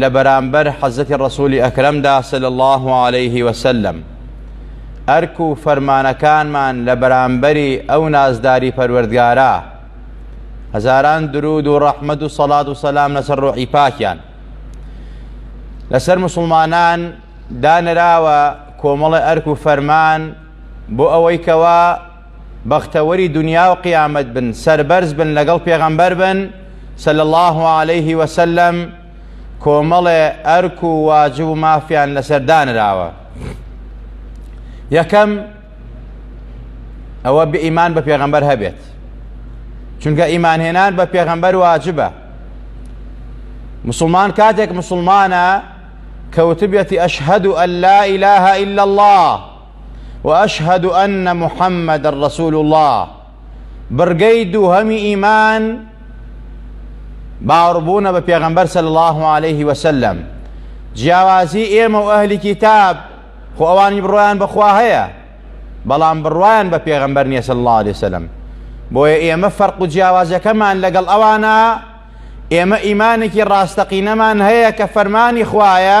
لە بەرامبەر حەزرەتی ڕەسوولی ئەکرەمدا صلی اللە علیه وسلم ئەرک و فەرمانەکانمان لە بەرامبەری ئەو نازداری پەروەردگارە هەزاران درود و ڕەحمەت و سەڵات و سەلام لەسەر ڕۆحی پاکیان لەسەر مسلمانان دانراوە کۆمەڵە ئەرک و فەرمان بۆ ئەوەی کەوا بەختەوەری دنیا و قیامەت بن سەربەرز بن لەگەڵ پێغەمبەر بن صلی الله علیه وسلم کۆمەڵێ ئەرک و واجب و مافیان لەسەر دانراوە یەکەم ئەوە بئیمان بە پێغەمبەر هەبێت چونکە ئیمانهێنان بە پێغەمبەر واجبە مسلمان کاتێک مسلمانە کەوتبێتی ئەشهد و ئەللا ئیلاها إلا الله وأشهد أن محمد الرسول الله بڕگەی دووهەمی ئیمان باوەڕبوونە بە پێغەمبەر صلی الله عليه وسلم جیاوازی ئێمە و ئەهلی کتاب خۆ ئەوانی بڕوایان بەخوا هەیە بەڵام بڕوایان بە پێغەمبەر نیە صلی الله عليه وسلم بۆیە ئێمە فەرق و جیاوازەکەمان لەگەڵ ئەوانە ئێمە ئیمانێکی ڕاستەقینەمان هەیە کە فەرمانی خوایە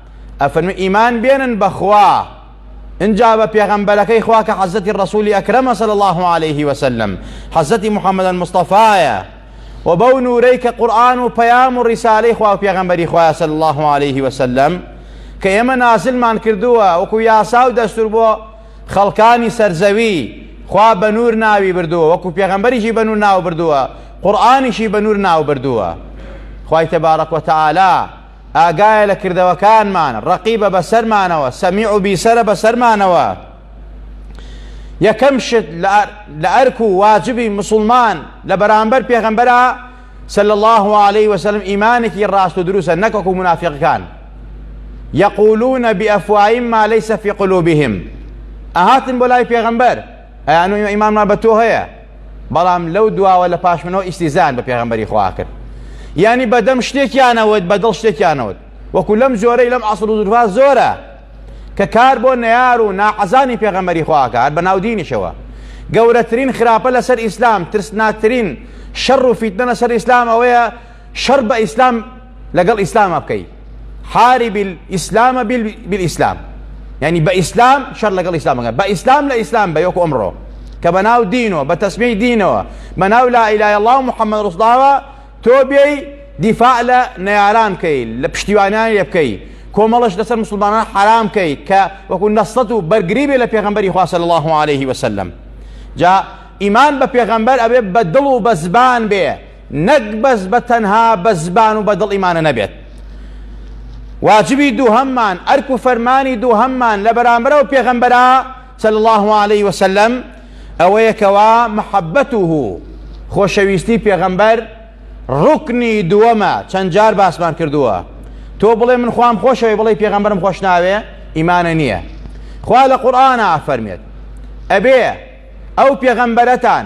ئەفەرموی ئیمان بێنن بەخوا انجا بە پێغەمبەرەکەی خوا کە حەزەتی ڕەسولی ئەکرەمە صلی الله عليه وسلم حەزەتی محمد المصطفایە و بەو نورەی کە قورآن و پەیام و ڕیسالەی خوا و پێغەمبەری خوایە صلی الله عليه وسلم کە ئێمە نازلمان کردووە وەکو یاسا و دەستور بۆ خەڵکانی سەرزەوی خوا بە نور ناوی بردووە وەکو پێغەمبەریشی بە نور ناو بردووە قورآنیشی بە نور ناو بردووە خوای تبارک و تعالی ئاگایە لە کردەوەکانمان، ڕەقیبە بەسەرمانەوە، سەمیع و بیسەرە بەسەرمانەوە. یەکەم شت لە ئەرک و واجبی مسوڵمان لە بەرامبەر پێغەمبەرا صلی الله علیه وسلم ئیمانێکی ڕاست و دروسە نەک وەکو منافقەکان یقولون بأفواههم ما ليس في قلوبهم ئەهاتن بۆ لای پێغەمبەر ئەیان و ئیمانمان بە تۆ هەیە بەڵام لەو دواوە لە پاشمنەوە ئیسیزان بە پێغمبەری خوا کرد یعنی بەدەم شتێکیانەوەت بەدڵ شتێکیانەوەت وەکو لەم جۆرەی لەم عسر و دورها زۆرە کە کار بۆ نەار و ناحەزانی پێغەمەری خواکار بە ناودینیشەوە گەورەترین خراپە لەسەر ئیسلام ترسناترین شەڕ و فیتنە لەسەر ئیسلام ئەوەیە شەڕ بە ئیسلام لەگەڵ ئیسلامە بکەی حارب الاسلام بالاسلام یعنی بە ئیسلام شەر لەگەڵ ئیسلامەکە بە ئیسلام لە ئیسلام بە یۆک ئەمڕۆ کە بە ناو دینەوە بە تەسمی دینەوە بە ناو لا ئیلای الله محەممەد ڕسڵاوە تۆ بێی دیفاع لە نەیاران بکەی لە پشتیوانیان لێ بکەی کۆمەڵش لەسەر مسلمانان حرام بکەی کە وەکو نەسڵەت و بەرگری بێ لە پێغمبەری خواسە الله عليه وسلم جا ئیمان بە پێغمبەر ئەبێ بە دڵ و بە زبان بێ نەک بەس بە تەنها بە زبان و بە دڵیمانە نەبێت واجبی دووهەممان ئەرک و فەرمانی دووهەممان لە بەرامبەرە و پێغەمبەرا صلی الله عليه وسلم ئەوەیە کەوا محەبەت و خۆشەویستی پێغەمبەر ڕکنی دووەمە چەند جار باسمان کردووە تۆ بڵێ من خۆم خۆشەوەی بڵێ پێغەمبەرم خۆش ناوێ ئیمانە نییە خوا لە قورآە ئەفەرمێت ئەبێ ئەو پێغەمبەرەتان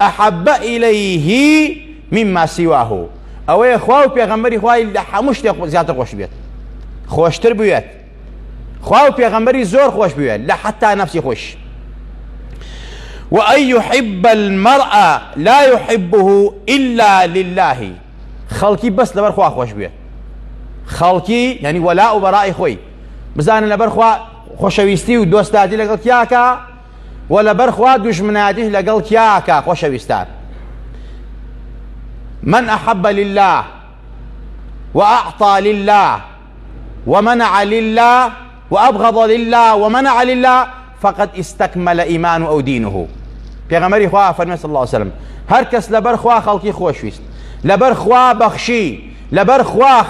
احب الیه مما سواه ئەوەیە خوا و پێغەمبەری خوای لە هەموو شتێک زیاتر خۆش بێت خۆشتر بوێت خوا و پێغەمبەری زۆر خۆش بوێت لە حتا نفسی خۆش وأن يحب المرء لا يحبه إلا لله خەڵکی بەس لەبەر خوا خۆش بوێت خەڵکی یعنی وەلا و بەڕای خۆی بزانە لەبەر خوا خۆشەویستی و دۆستاتی لەگەڵ تیاکە و لەبەر خوا دوژمنایەتیش لەگەڵ کیاکە خۆشەویستان من احب لله واعطى لله ومنع لله وابغض لله ومنع لله فقد استكمل ايمان او دينه پێغەمەری خوا فەرمێ صلی الله عليه وسلم هەر کەس لەبەر خوا خەڵکی خۆشویست لەبەر خوا بەخشی لەبەر خوا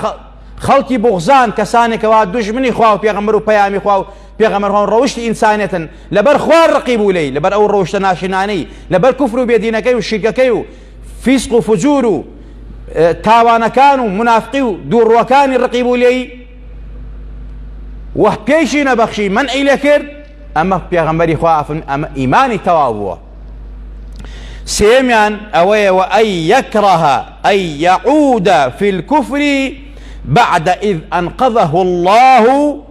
خەڵکی بغزان کەسانێکەوە دژمنی خوا و پێغەمبەر و پەیامی خوا و پێغەمبەر هۆن ڕەوشتی ئینسانێتن لەبەر خوار ڕقی بوو لێی لەبەر ئەو ڕەوشتە ناشرینانەی لەبەر کوفر و بێدینەکەی و شیرکەکەی و فیسق و فجور و تاوانەکان و منافقی و دووڕوەکانی ڕقی بوو لێی وە پێشی نەبەخشی من ئەی لە کرد ئەمە پێغەمبەری خوافن ئەمە ئیمانی تەواو بووە سێمیان ئەوەیە وە ئەی یەکڕەها ئەی یەعودە فی الكفری بعد إذ أنقذه الله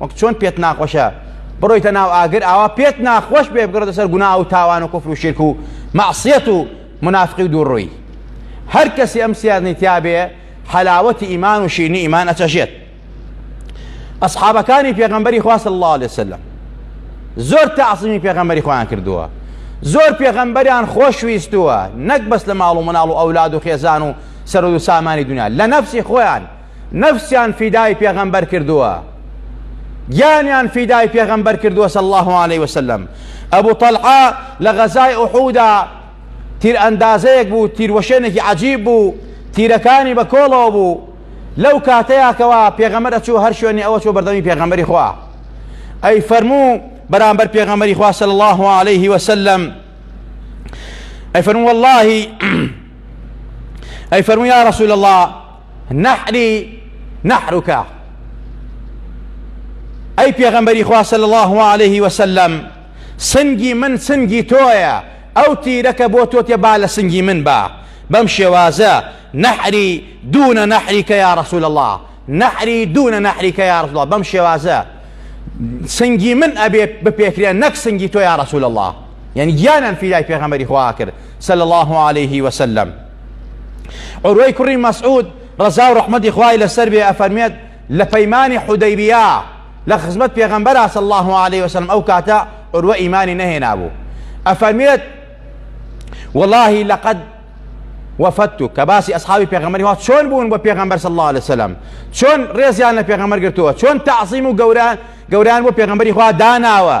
وەک چۆن پێت ناخۆشە بڕۆیتە ناو ئاگر ئاوا پێت ناخۆش بێ بگڕێتە سەر گونا و تاوان و کفر و شرک و مەعسیەت و منافقی و دووڕووی هەر کەسی ئەم سیارنی تیابێ حەلاوەتی ئیمان و شیرنی ئیمان ئەچەژێت ئەسحابەکانی پێغەمبەری خواست الله عليه وسلم زۆر تاعسیمی پێغەمبەری خۆیان کردووە زۆر پێغەمبەریان خۆشویستووە نەک بەس لە ماڵ و مناڵ و ئەولاد و خێزان و سەرود و سامانی دنیا لە نەفسی خۆیان نەفسیان فیدای پێغەمبەر کردووە گیانیان فیدای پێغەمبەر کردووە صلی الله علیه وسلم ئەبو طەلعە لە غەزای ئوحودا تیر ئەندازەیەک بوو تیروەشێنێکی عجیب بوو تیرەکانی بە کۆڵەوە بوو لەو کاتەیەکەوە پێغەمبەر ئەچوو هەر شوێنی ئەوە چۆ بەردەمی پێغەمبەری خوا ئەی فەرموو بەرامبەر پێغەمبەری خوا صلی الله علیه وسلم ئەی فەرموو واللهی ئەی فەرموو یا رسول الله نحری نحرکە ئەی پێغەمبەری خوا صلی الله علیه وسلم سنگی من سنگی تۆیە ئەو تیرەکە بۆ تۆ تێ با لە سنگی من با بەم شێوازە نحری دونە نحریکە یا رسول الله نحری دونە نحریکە یا رسول الله بەم شێوازە سنگی من ئەبێ بپێکرێ نەک سنگی تۆ یا رسول الله یعنی گیانان فیدای پێغەمبەری خوا کرد صلی الله علیه وسلم عروەی کوڕی مەسعود ڕەزا و ڕەحمەتی خوای لەسەر بێ ئەفەرمێت لە پەیمانی حودەیبیا لە خزمەت پێغەمبەر صلی الله علیه وسلم ئەو کاتە عروە ئیمانی نەهێنابوو ئەفەرمێت واللهی لەقەد وفدت کە باسی ئەسحابی پێغەمەری وا چۆن بوون بە پێغەمبەر صلی الله عليه وسلم چۆن ڕێزیان لە پێغەمبەر گرتووە چۆن تعظیم و گەوران گەوران بۆ پێغەمبەری خوا داناوە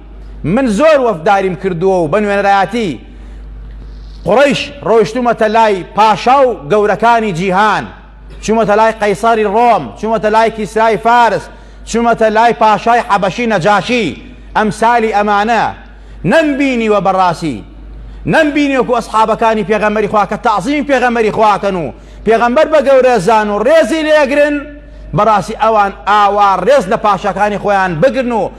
من زۆر وەفداریم کردووە و بە نوێنەرایەتی قوڕەیش ڕۆیشتوومەتە لای پاشا و گەورەکانی جیهان، چوومەتە لای قەیسەری ڕۆم، چوومەتە لای کیسرای فارس، چوومەتە لای پاشای حەبەشی نەجاشی، ئەمسالی ئەمانە نەمبینیوە بەڕاستی نەمبینی وەکو ئەسحابەکانی پێغەمبەری خوا کە تەعزیمی پێغەمبەری خوا کەن و پێغەمبەر بە گەورە زان و ڕێزی لێگرن بەڕاستی ئەوان ئاوا ڕێز لە پاشاکانی خۆیان بگرن و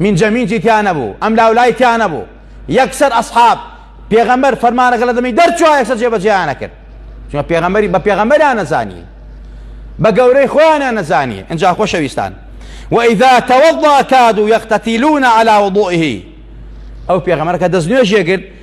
مینجە مینجی تیا نەبوو ئەم لاولای تیا نەبوو یەکسەر ئەسحاب پێغەمبەر فەرمانەکە لە دەمی دەرچوە یەکسەر جێبەجێیانە کرد چونکە پێغەمبەری بە پێغەمبەریان نەزانی بە گەورەی خۆیانیان نەزانی ئەجا خۆشەویستان وإذا توضأ كادوا يقتتلون على وضوئه ئەو پێغەمبەرەکە دەست نوێژێ کرد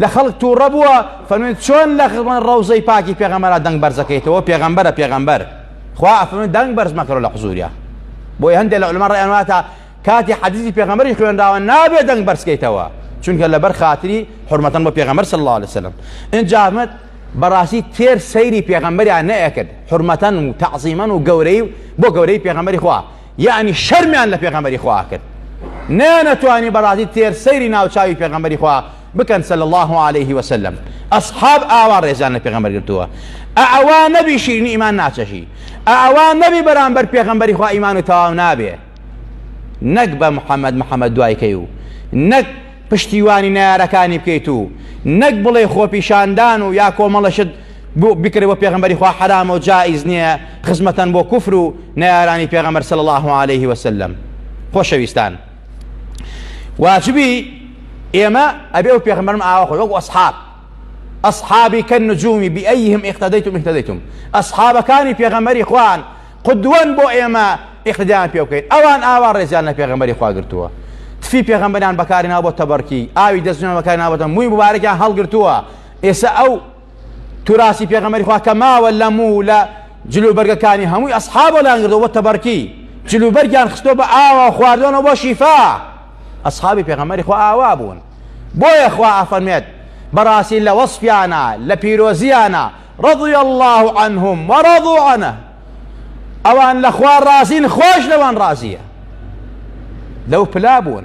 لە خەڵک تووڕە بووە فەرمێن چۆن لە ڕەوزەی پاکی پێغەمەرا دەنگ بەرزەکەیتەوە پێغەمبەرە پێغەمبەر خوا ئەفەرمێن دەنگ بەرز مەکەرە لە قزوریا بۆی هەندێک لە علمە ڕێیان واتە کاتی حەدیثی پێغەمبەری خوێنراوە نابێ دەنگ بەرزکەیتەوە چونکە لەبەر خاتری حرمەتەن بۆ پێغەمبەر صلی الله عليه وسلم اینجا ئەحمد بەڕاستی تێر سەیری پێغەمبەریان نەئەکرد حرمەتەن و تعظیمەن و گەورەی بۆ گەورەی پێغەمبەری خوا یەعنی شەرمیان لە پێغەمبەری خوا ئەکرد نەیانەتوانی بەڕازی تێر سەیری ناوچاوی پێغەمبەری خوا بکەن صلی اللە علیه وسلم ئەصحاب ئاوا ڕێزیان لە پێغەمبەر گرتووە ئەوا نەبی شیرینی ئیمان ناچەژی ئەوا نەبی بەرامبەر پێغەمبەری خوا ئیمان و تەواو نابێ نەک بە محەممەد محەممەد دوایکەی و نەک پشتیوانی نارەکانی بکەیت و نەک بڵێ خۆپیشاندان و یا کۆمەڵەشت گوو بکرێ بۆ پێغەمبەری خوا حەرامە و جائیز نییە خزمەتان بۆ کوفر و نەیارانی پێغەمبەر صلی الله علیه و سلم خۆشەویستان واجبی ئێمە ئەبێ و پێغەمبەرم ئاوا خۆی وەک ئەصحاب ئەصحابی کە نجومی بئیهم اقتدیتم اهتدیتم ئەصحابەکانی پێغەمبەری خوان قدوەن بۆ ئێمە اقتدیان پێ بکەین ئەوان ئاوا ڕێزیان لە پێغەمبەری خوا گرتووە تفی پێغەمبەران بەکاری ناو بۆ تەبەرکی ئاوی دەستنیان بەکاری ناوەتە مووی مبارەکیان هەڵگرتووە ئێسە ئەو توراسی پێغەمەری خوا کە ماوە لە موو و لە جلوبەرگەکانی هەمووی ئەسحابە لانگردەوە بە تەبەرکی جلوبەرگیان خستۆ بە ئاوا خواردۆنە بۆ شیفا ئەسحابی پێغەمەری خوا ئاوا بوون بۆیە خوا ئەفەرمێت بەڕاستی لە وەسپیانە لە پیرۆزیانە ڕضی الله عنهم وەڕضوا عنه ئەوان لە خوا ڕازین خۆش لەوان ڕازیە لەو پلا بوون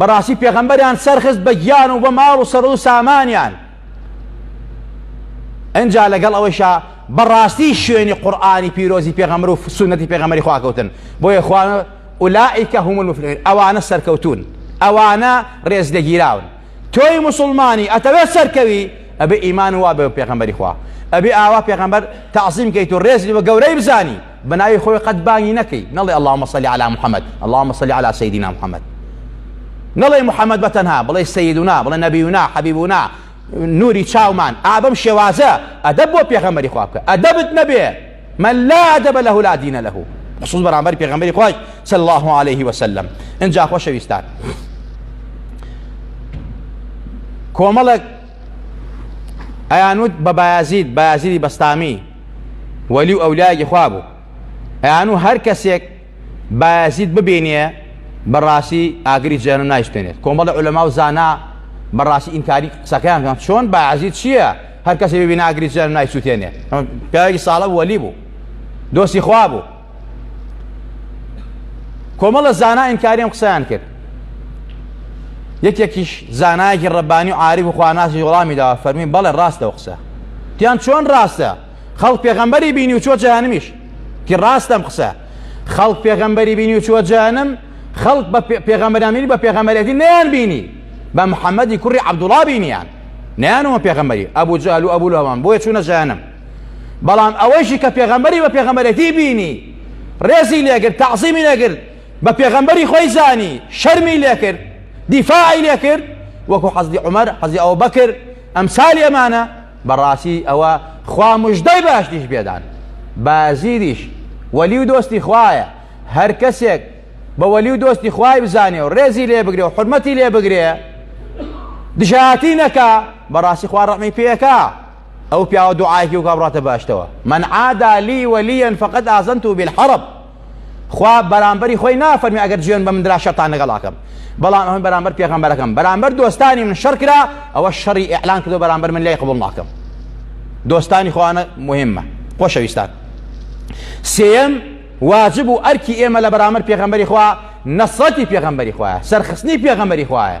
بەڕاستی پێغەمبەریان سەرخست بە گیان و بە ماڵ و سەر و سامانیان ئەجا لەگەڵ ئەوەیشا بەڕاستی شوێنی قورآانی پیرۆزی پێغەمر و سونەتی پێغەمەری خواکەوتن بۆیە خوان ئولائیکە هم المفلحون ئەوانە سەرکەوتون ئەوانە ڕێز لەگیراون تۆی مسلمانی ئەتەوێت سەرکەوی ئەبێ ئیمان وا بە پێغەمبەری خوا ئەبێ ئاوا پێغەمبەر تعظیم کەیت و ڕێزی بە گەورەی بزانی بەناوی خۆی قەت بانگی نەکەی نەڵێ اللهم صل علی محمد اللهم صل علی سیدنا محمد نەڵێ محمد بەتەنها بڵێ سیدنا بڵێ نەبیونا حەبیبونا نوری چاومان ئابم شێوازە ئەدەب بۆ پێغەمەری خوا بکە ئەدەبت نەبێ من لا ئەدەبە لەه لا دینە لەه خصوص بەرامبەر پێغەمەری خۆش صلی الله عليه وسلم ئەجا خۆشەویستان کۆمەڵێک ئەیانوت بە بایازید بایازیدی بەستامی وەلی و ئەولایەکی خوا بوو ئەیانوو هەر کەسێک بایەزید ببینێ بەڕاستی ئاگری جەهەنم نایشتێنێت کۆمەڵی عولەما و زانا بەڕاستی ئینکاری قسەکەیان کەن چۆن بایەزید چییە هەر کەسی ببینە ئاگری جەهەنم نایسووتێنێ پیاوێکی ساڵە بوو وەلی بوو دۆستی خوا بوو کۆمەڵە زانا ئینکاری ئەم قسەیان کرد یەکێکیش زانایەکی ڕەبانی و عاریف و خواناسی وەڵامی داوە فەرمی بەڵێ ڕاستە و قسە تیان چۆن ڕاستە خەڵک پێغەمبەری بینی و چۆ جەهانمیش کی ڕاستەم قسە خەڵک پێغەمبەری بینی و چوە جانم خەڵک بە پێغەمبەرامینی بە پێغەمبەرێتی نیان بینی بە محەممەدی کوڕی عبدوڵا بینیان نیانەوە پێغەمبەری ئەبوو جالو ئەبوو لەوان بۆیە چوونە جانم بەڵام ئەوەیشی کە پێغەمبەری بە پێغەمبەرێتی بینی ڕێزی لێگرت تەعزیمی لێگرت بە پێغەمبەری خۆی زانی شەرمی لێکرد دیفاعی لێکرد وەکو حەزی عمر حەزی ئەو بەکر ئەمسالی ئەمانە بەڕاستی ئەوە خوا مژدەی باشتیش بێدان بازیریش وەلی و دۆستی خوایە هەر کەسێک بە وەلی و دۆستی خوای بزانێ و ڕێزی لێ بگرێ و حرمەتی لێ بگرێ دژایەتی نەکا بەڕاستی خوا ڕەحمی پێەکە ئەو پیاوە دوعایەکی وکا بڕاتە باشتەوە من عادا لی وەلیەن فقط ئازنت و بالحرب خوا بەرامبەری خۆی نافەرمی ئەگەر جوێن بە مندرا شەتان لەگەڵ ئاکەم بەڵام ئەمە بەرامبەر پێغەمبەرەکەم بەرامبەر دۆستانی من شەر کرا ئەوە شەڕی ئیعلان کردو بەرامبەر من لای قبول ناکەم دۆستانی خوانە مهمە خۆشەویستان سێم واجب و ئەرکی ئێمە لە بەرامبەر پێغەمبەری خوا نەسرەتی پێغەمبەری خوایە سەرخستنی پێغەمبەری خوایە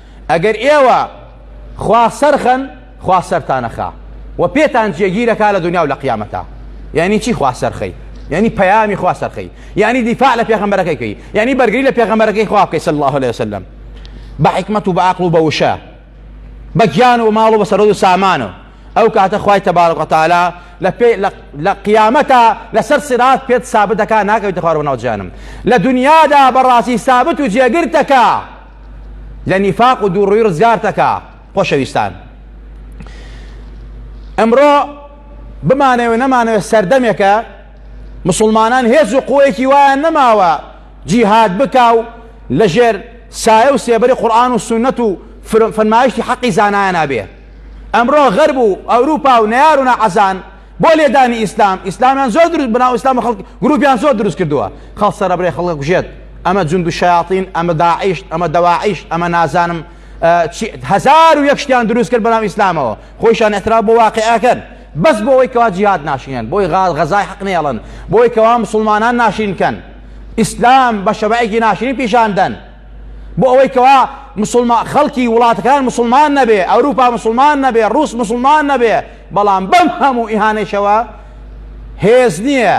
ئەگەر ئێوە خوا سەرخەن خوا سەرتانەخا و پێتان جێگیرەکە لە دنیا و لە قیامەتە یعنی چی خوا سەرخەی یعنی پەیامی خوا سەرخەی یعنی دیفاع لە پێغەمبەرەکەیکەی یعنی بەرگری لە پێغەمبەرەکەی خوا بکەی صلی الله عليه وسلم بە حکمت و بە عقل و بە وشە بە گیان و ماڵ و بە سەرۆ و سامانە ئەو کاتە خوای تەبارک و تعالی لە پێ لە قیامەتە لەسەر سرات پێت سابتەکە ناکەویتە خوارەوە ناو جانم لە دنیادا بەڕاستی سابت و جێگرتەکە لە نیفاق و دووڕووی ڕزگارتەکا خۆشەویستان ئەمڕۆ بمانەوێ نەمانەوێ سەردەمێکە مسلمانان هێز و قوەیەکی وایان نەماوە جیهاد بکا و لەژێر سایە و سێبەری قورآن و سنت و فەرمایشتی حەقی زانایە نابێ ئەمڕۆ غەرب و ئەوروپا و نەیار و نەعەزان بۆ لێدانی ئیسلام ئیسلامیان زۆر دروست بناو ئیسلام خەڵک گروپیان زۆر دروست کردووە خەڵ سەرەبرێ خەڵک کوژێت ئەمە جوند و شیاطین ئەمە داعیشت ئەمە دەواعیشت ئەمە نازانم هزار و یەک شتیان دروست کرد بەناو ئیسلامەوە خۆیشان احترا بۆ واقعەکەن بەس بۆ ئەوەی کەوا جیهات ناشینەن بۆی غاز غەزای حەق نێڵن بۆی کەوا مسلمانان ناشین کەن ئیسلام بە شەبعێکی ناشرین پیشان دەن بۆ ئەوەی کەوا مسلمان خەڵکی وڵاتەکان مسلمان نەبێ ئەوروپا مسلمان نەبێ ڕوس مسلمان نەبێ بەڵام بەم هەموو ئیهانەیشەوە هێز نییە،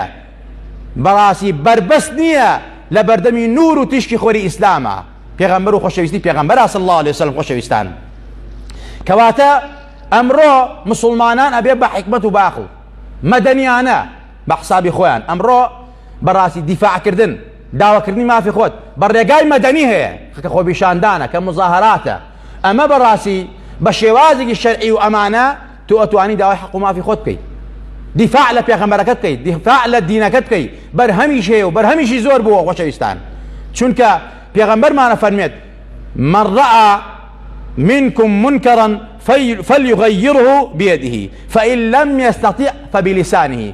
بەڕاستی بەربەست نییە لە بەردەمی نوور و تیشکی خۆری ئیسلامە، پێغەمبەر و خۆشەویستی پێغەمبەرە صلی اللە علیە وسلم خۆشەویستان. کەواتە ئەمڕۆ مسلمانان ئەبێ بە حکمت و باخ و مەدەنیانە بە حسابی خۆیان ئەمڕۆ بەڕاستی دیفاعکردن داواکردنی مافی خۆت بە ڕێگای مەدەنی هەیە خەکە خۆبیشاندانە کە مزاهراتە ئەمە بەڕاستی بە شێوازێکی شەرعی و ئەمانە تۆ ئەتوانی داوای حەق و مافی خۆت بکەیت دیفاع لە پێغەمبەرەکەت بکەیت دیفاع لە دینەکەت بکەیت بەرهەمیش هەیە و بەرهەمیشی زۆر بووە خۆشەویستان چونکە پێغەمبەرمانە فەرمێت من ڕعا منكم منكرا فليغيره بيده فإن لم يستطع فبلسانه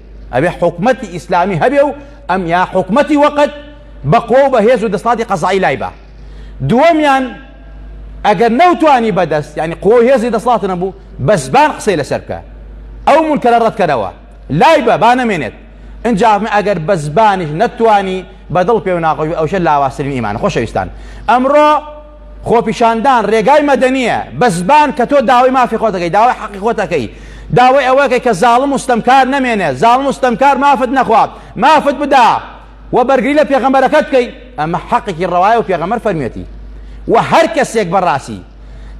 ئەبێ حکومەتی ئیسلامی هەبێ و ئەم یا حکومەتی وەقت بەقوە و بەهێز و دەسڵاتی قەزایی لای بە دووەمیان ئەگەر نەوتانی بەدەست ینی قوە و هێزی دەسڵات نەبوو بە زبان قسەی لەسەر بکە ئەو منکەرە ڕەتکەرەوە لای بە با نەمێنێت ئەنجام ئەگەر بە زبانیش نەتوانی بەدڵ پێ و ناقۆش ئەوشە لاواسترین ئیمانە خۆشەویستان ئەمڕۆ خۆپیشاندان رێگای مەدەنیە بەزبان کە تۆ داوای مافی خۆت دەکەی داوای حەقی خۆت دەکەی داوای ئەوەکەی کە زاڵم و ستەمکار نەمێنێ زاڵم و ستەمکار مافت نەخوات مافت بدا و بەرگری لە پێغەمبەرەکەت بکەی ئەمە حەقێکی ڕەوایە و پێغەمبەر فەرمیەتی و هەر کەسێک بەڕاستی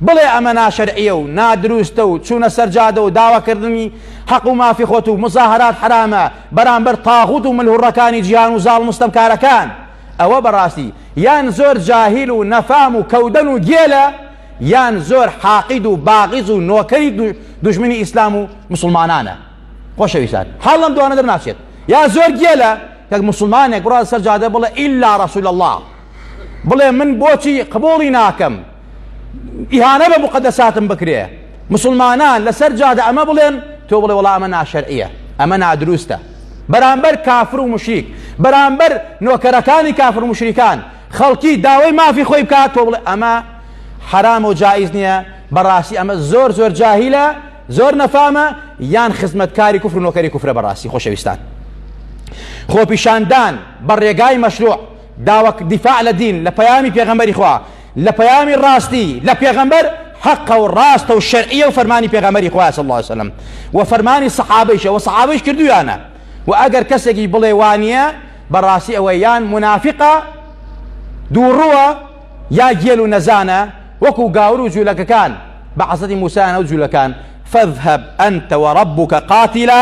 بڵێ ئەمە ناشەرعیە و نادروستە و چوونە سەرجادە و داواکردنی حەق و مافی خۆت و مزاهرات حرامە بەرامبەر تاغوت و ملهوڕەکانی جیهان و زاڵ مستەمکارەکان ئەوە بەڕاستی یان زۆر جاهیل و نەفام و کەودەن و گێلە یان زۆر حاقید و باغیز و نۆکەری دوژمنی ئیسلام و مسلمانانە خۆشەویستان حاڵم دوانە دەرناچێت یا زۆر گێلە کەک مسلمانێک بڕاز سەر جادە بڵێ ئیلا ڕسول الله بڵێ من بۆچی قبوڵی ناکەم ئیهانە بە موقەدەساتم بکرێ مسوڵمانان لەسەر جادە ئەمە بڵێن تۆ بڵێ وەڵا ئەمە ناشەرعیە ئەمە نادروستە بەرامبەر کافر و مشریک بەرامبەر نۆکەرەکانی کافر و مشریکان خەڵکی داوای مافی خۆی بکات تۆ بڵێ ئەمە حرام و جایز نییە بەڕاستی ئەمە زۆر زۆر جاهیلە زۆر نەفامە یان خزمەتکاری کوفر و نۆکەری کوفرە بەڕاستی خۆشەویستان خۆپیشاندان بە ڕێگای مەشروع داوەک دیفاع لە دین لە پەیامی پێغەمبەری خوا لە پەیامی ڕاستی لە پێغەمبەر حەقە و ڕاستە و شەرعیە و فەرمانی پێغەمبەری خوا صلی الله علیه وسلم و فەرمانی سەحابەیشە و سەحابەیش کردویانە و ئەگەر کەسێکی بڵێ وانە بەڕاستی ئەوە یان منافقە دووڕووە یا گێل و نەزانە وەکو گاور و جوولەکەکان بە عەزەتی موسیانە و جوولەکان فەذهب ئەنتە وەڕبووکە قاتیلا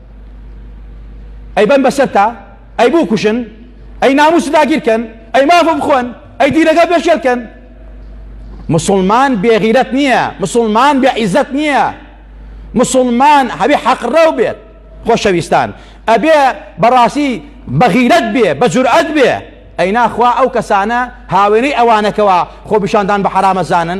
ئەی بەن بەسەرتا ئەی بوو کوشن ئەی ناموس داگیرکەن ئەی مافە بخۆن ئەی دیرەکە پێشێلکەن مسلمان بێغیرەت نییە مسلمان بێ عیزەت نییە مسلمان هەبێ حەقڕەو بێت خۆشەویستان ئەبێ بەڕاستی بەغیرەت بێ بە جورئەت بێ ئەی ناخوا ئەو کەسانە هاوێنەی ئەوانەکەوە خۆ بشاندان بە حرامەزانن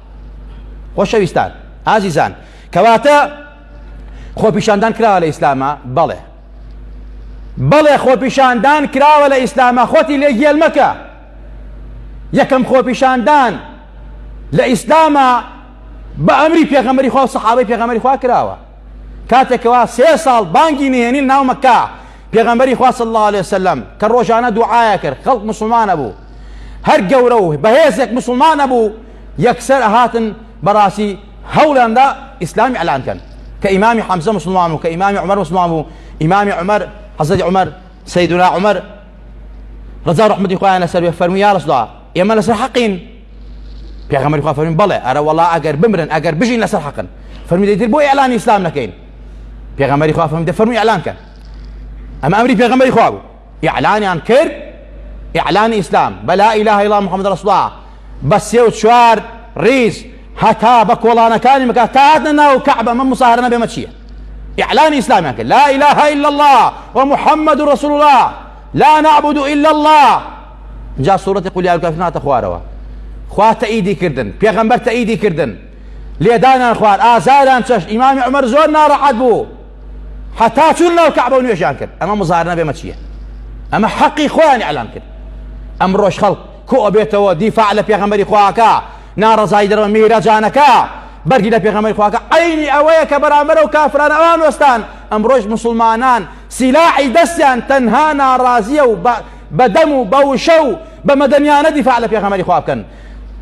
خۆشەویستان ئازیزان کەواتە خۆپیشاندان کراوە لە ئیسلامە بەڵێ بەڵێ خۆپیشاندان کراوە لە ئیسلامە خۆتی لێ گێل مەکە یەکەم خۆپیشاندان لە ئیسلامە بە ئەمری پێغەمەری خوا و سەحابەی پێغەمەری خوا کراوە کاتێکەوە سێ ساڵ بانگی نهێنی ناو مەکە پێغەمبەری خوا صلی الله عليه وسلم کە ڕۆژانە دوعاە کرد خەڵک مسلمانە بوو هەر گەورە و بەهێزێک مسلمان نەبوو یەکسەر ئەهاتن بەڕاستی هەوڵیاندا ئیسلامی ئەلان کەن کە ئیمامی حەمزە مسلمان بوو کە ئیمامی عمر مسلمان بوو ئیمامی عمر حەزەتی عمر سیدنا عمر ڕزا ڕحمەتی خۆیان لەسەر بێ فەرمی یا ڕسدا ئێمە لەسەر حەقین پێغەمەری خوا فەرمی بەڵێ ئەرە وەڵا ئەگەر بمرن ئەگەر بژین لەسەر حەقن فەرمی دەیتر بۆ ئەلان ئیسلام نەکەین پێغەمەری خوا فەرمی دە فەرمی ئەلان کەن ئەمە ئەمری پێغەمەری خوا بوو ئیعلانیان کرد ئیعلانی ئیسلام بە لا ئیلاهە ئیلا اللە محمد رسول الله بە سێ و چوار ڕیز هەتا بە کۆڵانەکانی مەکە تا هاتنە ناو کەعبە مە مساهرە نەبێ مە چییە ئیعلانی ئیسلامیان کرد لا ئیلاهە ئیلا اللە و محمد رسول الله لا نعبد الا الله جا سوورەتی قول یارکافرین هاتە خوارەوە خوا تەئیدی کردن پێغەمبەر تەئیدی کردن لێدانان خوار ئازاریان چەشت ئیمامی عمر زۆر ناڕەحەت بوو هەتا چون ناو کەعبە و نوێژیان کرد ئەمە مزارنە بێمە چییە ئەمە حەقی خۆیان ئەلام کرد ئەم ڕۆژ خەڵک کۆ ئەبێتەوە دیفاع لە پێغەمبەری خواکە ناڕزای دەرەوە میرەجانەکە بەرگی لە پێغەمبەری خواکە عینی ئەوەیە کە بەرامبەرە و کافران ئەوان وەستان ئەم ڕۆژ مسلمانان سیلاعی دەستیان تەنها ناڕازیە و بە دەم و بە وشە و بە مەدەنیانە دیفاع لە پێغەمبەری خوا بکەن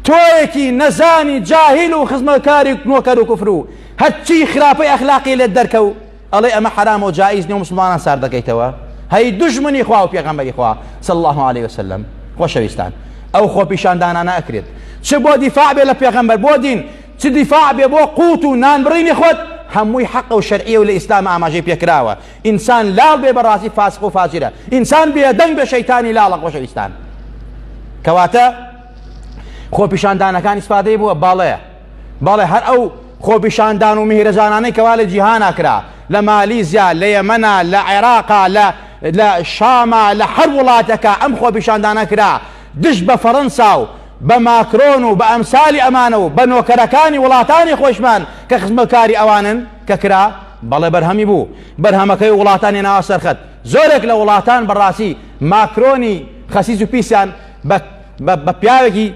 تۆیەکی نەزانی جاهیل و خزمەتکاری نۆکەر و کوفر و هەرچی خراپەی ئەخلاقی لێت دەرکەو ئەڵێ ئەمە حرام و جائز نیە و مسلمانان سار دەکەیتەوە هەی دژمنی خوا و پێغەمبەری خوا صلی الله علیه وسلم خۆشەویستان ئەو خۆ پیشاندانانە ئەکرێت چ بۆ دیفاع بێ لە پێغەمبەر بۆ دین چ دیفاع بێ بۆ قوت و نان بڕینی خۆت هەمووی حەق و شەرعیە و لە ئیسلام ئاماژەی پێکراوە ئینسان لاڵ بێ بەڕاستی فاسق و فاجرە ئینسان بێدەنگ بە شەیتانی لاڵە خۆشەویستان کەواتە خۆپیشاندانەکان ئیسفادەی بووە باڵەیە بەڵێ هەر ئەو خۆپیشاندان و میهرەجانانەی کەوا لە جیهانا کرا لە مالیزیا لە یەمەنا لە عێراقا لە لە شاما لە هەر وڵاتەکە ئەم خۆپیشاندانە کرا دژ بە فەڕەنسا و بە ماکرۆن و بە ئەمسالی ئەمانە و بە نۆکەرەکانی وڵاتانی خۆشمان کە خزمەکاری ئەوانن کە کرا بەڵێ بەرهەمی بوو بەرهەمەکەی وڵاتانی ناوە سەرخەت زۆرێک لە وڵاتان بەڕاستی ماکرۆنی خەسیز و پیسیان بە بە پیاوێکی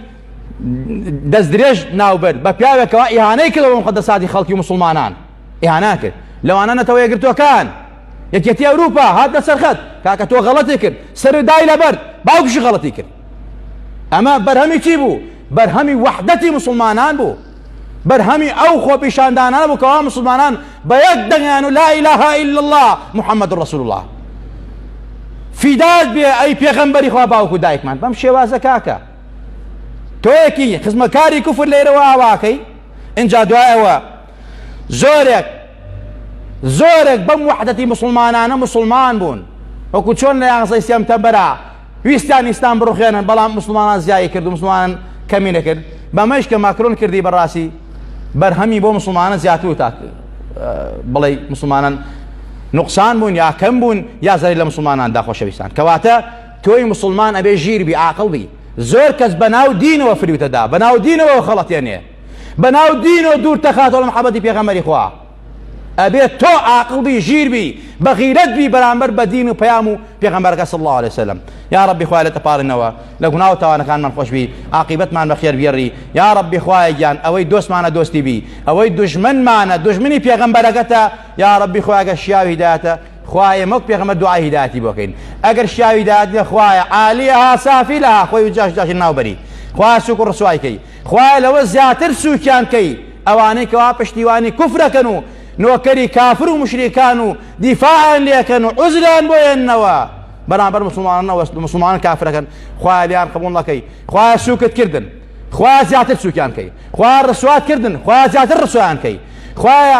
دەست درێژ ناوبرد بە پیاوێکەوە ئیهانەی کردەوە مقدساتی خەڵکی مسلمانان ئیهانا کرد لەوانە نەتەوە یەکگرتوەکان یەکێتی ئەوروپا هات لە سەرخەت کاکە تۆ غەڵەتی کرد سەر دای لەبەر باوکشی غەڵەتی کرد ئەمە بەرهەمی چی بوو بەرهەمی وحدەتی مسلمانان بوو بەرهەمی ئەو خۆپیشاندانە بوو کەوا مسلمانان بە یەک دەنگیان و لا إله إلا الله محمد رسول الله فیداد بێ ئەی پێغەمبەری خوا باوکو دایکمان بەم شێوازە کاکە تۆیەکی خزمەکاری کوفر لێرەوە ئاواکەی ئینجا دوایەوە زۆرێک زۆرێک بەم وحدەتی مسلمانانە مسلمان بوون وەکو چۆن لە یانزەی سێمتەمبەرا ویستان ئیسلام بڕخێنن بەڵام مسلمانان زیایی کرد و مسلمانان کەمی نەکرد بەمەش کە ماکرۆن کردی بەڕاستی بەرهەمی بۆ مسلمانە زیاتر و تا بڵێ مسلمانان نقصان بوون یا کەم بوون یا زاری لە مسلمانان داخۆشەویستان کەواتە تۆی موسڵمان ئەبێ ژیر بی عاقڵ بی زۆر کەس بەناو دینەوە فریوتە دا بەناو دینەوە خەڵەتێنێ بەناو دینەوە دوور تەخاتەوە لە محەبەتی پێغەمەری خوا ئەبێ تۆ عاقڵ بی ژیر بی بەغیرەت بی بەرامبەر بە دین و پەیام و پێغەمبەرەکە صلی الله عليه وسلم یا ربی خوای لە تەپارنەوە لە گوناه و تاوانەکانمان خۆش بی عاقبەتمان بە خێر بگێڕی یا ربی خوایە گیان ئەوەی دۆستمانە دۆستی بی ئەوەی دژمنمانە دژمنی پێغەمبەرەکەتە یا ربی خوایگە شیاوی هیدایەتە خوایە ئێمە وەک پێغەمبەر دوعای هیدایەتی بۆ کەین ئەگەر شیاوی هیدایەت بێ خوایە عالیها سافلها خۆی و جاش جاشی ناوبەری خوایە سوک و ڕسوای کەی خوایە لەوە زیاتر سوکیان کەی ئەوانەی کەوا پشتیوانی کوفرەکەن و نۆکەری کافر و مشریکان و دیفاعیان لێکەن و عزریان بۆ ێنەوە بەرامبەر مسلمانەوە مسلمانان کافرەکەن خوایە لیان قبول نەکەی خوایە سوکت کردن خوایە زیاتر سوکیان کەی خوایە ڕسوات کردن خوایە زیاتر ڕسویان کەی خوایە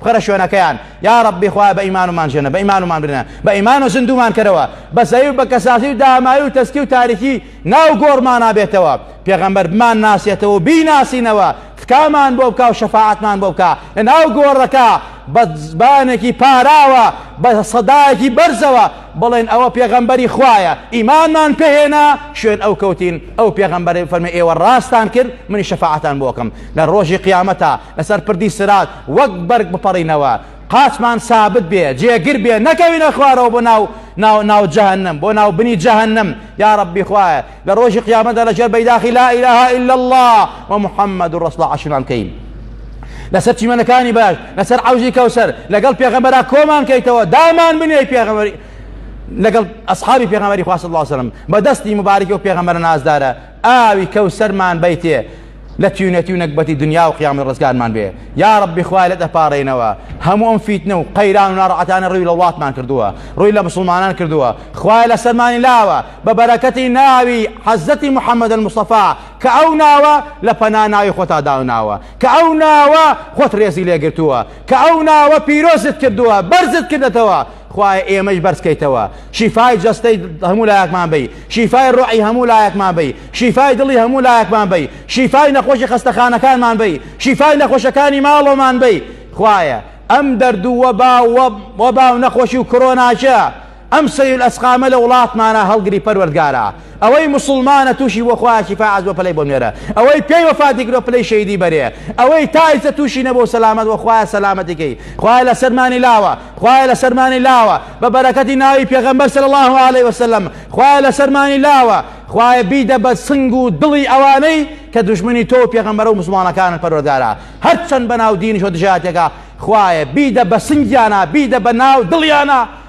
بخەرە شوێنەکەیان یاڕەبی خوایە بە ئیمانمان ژێنە بە ئیمانمان برنە بە ئیمانە زندومان کەرەوە بە زەوی و بە کەسازی و داماوی و تەسکی و تاریکی ناو گۆڕمانا بێتەوە پێغەمبەر بمان ناسێتەوە و بیناسینەوە تکامان بۆ بکە و شەفاعەتمان بۆ بکە لە ناو گۆڕەکە بە زبانێکی پاراوە بە سەدایەکی بەرزەوە بڵێن ئەوە پێغەمبەری خوایە ئیمانمان پێهێنا شوێن ئەو کەوتین ئەو پێغەمبەری فەرمی ئێوە ڕاستان کرد منی شەفاعتان بۆکەم لە ڕۆژی قیامەتە لەسەر پردی سرات وەک بەرگ بپەڕینەوە، قاچمان سابت بێ، جێگر بێ، نەکەوینە خوارەوە بۆ ناو ناو ناو جەهەنەم، بۆ ناو بنی جەهەنەم، یا ربی خوایە لە رۆژی قیامەتدا لە ژێر بەیداخی لا الە الا اللە و محمد رسول اللە عەشرمان بکەین. لەسەر چیمەنەکانی باش لەسەر عەوزی کەوسەر لەگەڵ پێغەمبەرا کۆمان کەیتەوە دامان بنێی پێغەمبەری لەگەڵ ئەسحابی پێغەمبەری خوا صلی اللە علیه و سلم بە دەستی مبارەکی و پێغەمبەرە نازدارە ئاوی کەوسەرمان بەیتێ لە تیونەتی و نەگبەتی دنیا و قیامەت ڕزگارمان بێ یاڕەبی خوایە لێت ئەپاڕێینەوە هەموو ئەم فیتنە و قەیران و ناڕەعەتانە ڕووی لە وڵاتمان کردووە ڕووی لە مسوڵمانان کردووە خوایە لەسەرمانی لاوە بە بەرەکەتی ناوی حەزرەتی محمد المصطفی کە ئەو ناوە لە پەنا ناوی خۆتا داوناوە کە ئەو ناوە خۆت ڕێزی لێگرتووە کە ئەو ناوە پیرۆزت کردووە بەرزت کردەتەوە خوایە ئێمەیش بەرزکەیتەوە شیفای جەستەی هەموو لایەکمان بی شیفای ڕۆعی هەموو لایەکمان بی شیفای دڵی هەموو لایەکمان بی شیفای نەخۆشی خەستەخانەکانمان بی شیفای نەخۆشەکانی ماڵۆمان بی خوایە ئەم دەردوو وەبا وەبا و نەخۆشی و کۆرۆناچە ئەم سەیل ئەسقامە لە وڵاتمانە هەڵگری پەروەردگارە ئەوەی موسوڵمانە توشی بۆ خوایە شیفا عەز بۆ پلەی بۆ نوێرە ئەوەی پێی وەفاتی کردوە پلەی شەیدی بەرێ ئەوەی تایسە توشی نەبۆ سەلامەت وە خوایە سەلامەتی کەی خوایە لە سەرمانی لاوە خوایە لە سەرمانی لاوە بە بەرەکەتی ناوی پێغەمبەر صلی الله علیه وسلم خوایە لە سەرمانی لاوە خوایە بیدە بە سنگ و دڵی ئەوانەی کە دژمنی تۆ و پێغەمبەرە و مسلمانەکانن پەروەردارا هەرچەند بەناو دینیش و دژایەتەکە خوایە بیدە بە سنگیانە بیدە بە ناو دڵیانە